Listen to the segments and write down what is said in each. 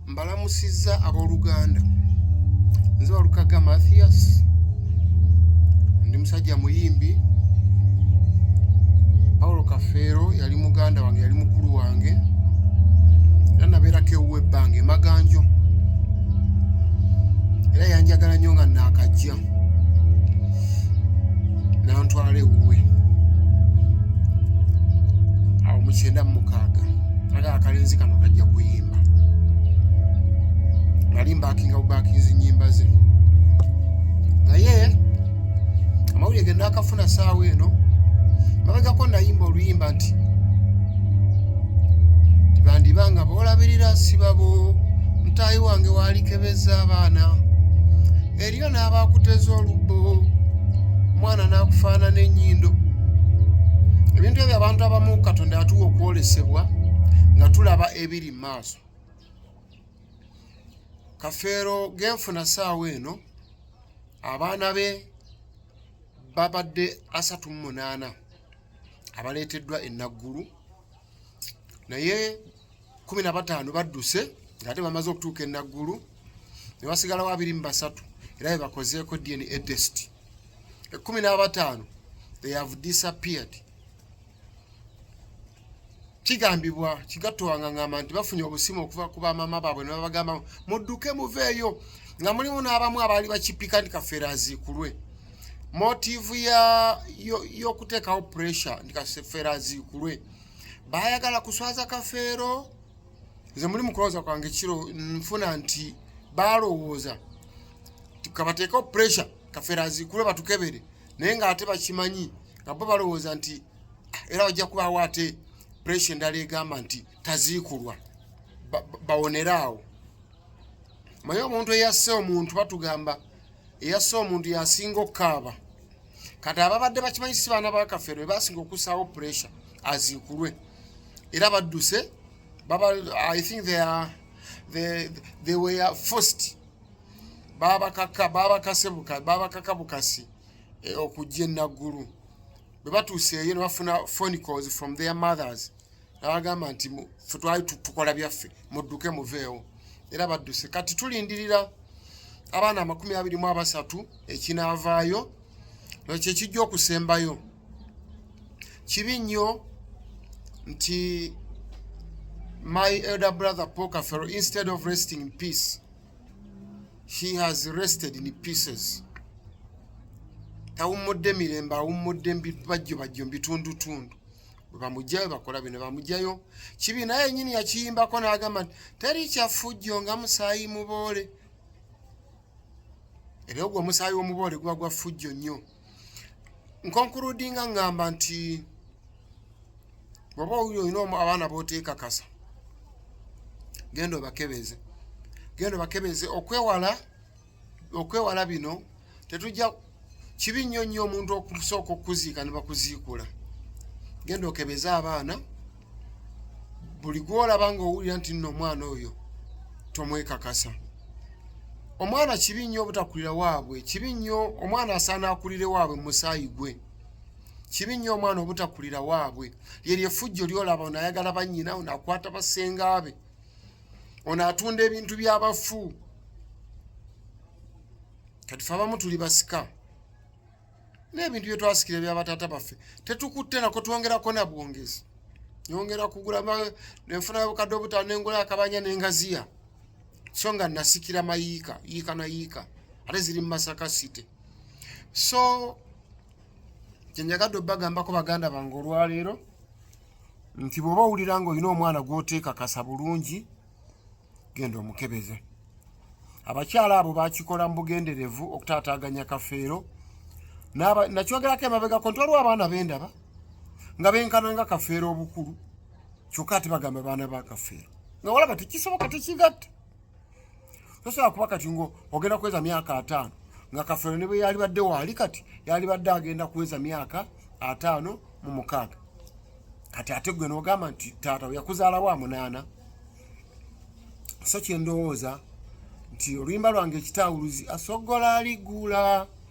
mbalamusizza abooluganda nze walukaga mathias ndi musajja muyimbi paulo kafeero yali muganda wange yali mukulu wange era nabeerako ewuwa ebbanga emaganjo era yanjagala nnyo nga naakajja nantwala ewuwe awo mukyenda mumukaaga aga akalenzi kano kajja kuyimba nali mbakinga bubakinzi nyimba ze naye amawulire ge nakafuna saawa eno mabegako nayimba oluyimba nti tibandiba nga boolabirira sibabo mutaayi wange waalikebeza abaana eriyo n'abaakuteza olubbo omwana n'akufaanana ennyindo ebintu ebyo abantu abamu katonda yatuwa okwolesebwa nga tulaba ebiri mu maaso kafeero genfuna saawa eno abaana be babadde asatu mu munaana abaleeteddwa ennaggulu naye kumi na bataano badduse ng'ate bamaze okutuuka e Naggulu ne basigalawo abiri mu basatu era be bakozeeko DNA test ekkumi n'abataano they have disappeared kigambibwa kigatto wangangamba nti bafunye obusimu okuva ku bamaama baabwe ne babagamba mudduke muveeyo nga mulimu n'abamu abaali bakipika nti kafeera aziikulwe motivu y'okuteekawo pressure nti kafeera aziikulwe baayagala kuswaza kafeero nze muli mukulowooza kwange kiro nfuna nti baalowooza kabateekeo pressure kafeero azikule batukebere naye ng'ate bakimanyi nga bo balowooza nti ah, era bajja kubaawo ate pressure endala egamba nti taziikulwa bawonere awo maye omuntu eyasse omuntu batugamba eyasse omuntu yasinga okukaaba kati ababadde bakimanyi si baana bakafeero bebasinga okussaawo pressure aziikulwe era badduse i think they are, they, they were forced babakaka babakase bukasi babakaka bukasi eh, okujja enaggulu bwe batuuseeyo ne bafuna phone calls from their mothers abagamba nti fe twali tukola byaffe mudduke muveewo era badduse kati tulindirira abaana amakumi abiri mu abasatu ekinaavaayo ekyo ekijja okusembayo kibi nnyo nti my elder brother pokafero instead of resting in peace he has rested in pieces tawummudde mirembe awummudde bajjo bajjo mbitundutundu bwebamugjayo bakola bino bamugjayo kibi naye yenyini yakiyimbako nagamba nti teri kyafujjo nga musaayi muboole era ogwo omusaayi womuboole guba gwa fujjo nnyo nkonkurudinga ngamba nti bwoba owuli olina omu abaana boteekakasa genda obakebeeze genda obakebeeze okwewala okwewala bino tetujja kibi nnyo nnyo omuntu okusooka okuziika ne bakuziikula genda okebeze abaana buli gwolaba nga owulira nti nno omwana oyo tomwekakasa omwana kibi nnyo obutakulira waabwe kibi nnyo omwana asaana akulire waabwe musaayi gwe kibi nnyo omwana obutakulira waabwe lyeryo efujjo lyolaba onayagala bannyina onakwata basengaabe ono atunda ebintu byabafu kati fe abamu tuli basika n'ebintu bye twasikira ebya bataata baffe tetukutte nako twongerako na bwongezi nyongera kugula nenfuna obukadde obutaano nengula akabanya nengaziya so nga nasikira mayiika yiika na yiika ate ziri mu masaka city so kyenjagadde obbagambako baganda bange olwaleero nti bw'oba owulira ng'olina omwana gw'oteekakasa bulungi genda omukebeze abakyala abo bakikola mu bugenderevu okutaataaganya kafeero nakyogerako emabegako nti waliwo abaana bendaba nga benkana nga kafeero obukulu kyokka ati bagamba baana ba kafeero nga walaba tekisoboka tekigatta tosobola kuba kati ngo ogenda kuweza myaka ataano nga kafeero ne bwe yalibadde waali kati yalibadde agenda kuweza myaka ataano mu mukaaga kati ate gwe nogamba nti taata yakuzaalawo amunaana so kyendowooza nti oluyimba lwange ekitaawuluzi asogola aligula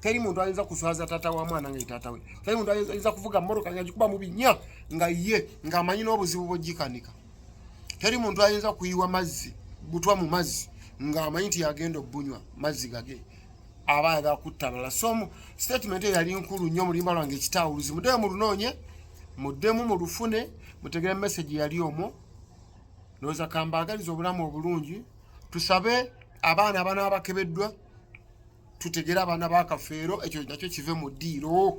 teri muntu ayinza kuswaza tata wa mwana nga tata we teri muntu ayinza kuvuga moroka nga jikuba mubinya nga ye nga amanyi n'obuzibu bwojikanika teri muntu ayinza kuyiwa mazzi butwa mu mazzi nga amanyi nti yagenda obunywa mazzi gage aba ayagala kutta abalala so mu statement eyo yali nkulu nnyo mulimba lwange ekitawuluzi muddemu mulunoonye muddemu mulufune mutegere message yali omwo ndowooza kambaagaliza obulamu obulungi tusabe abaana abana abakebeddwa tutegere abaana ba kafeero ekyo nakyo kive mu ddiiro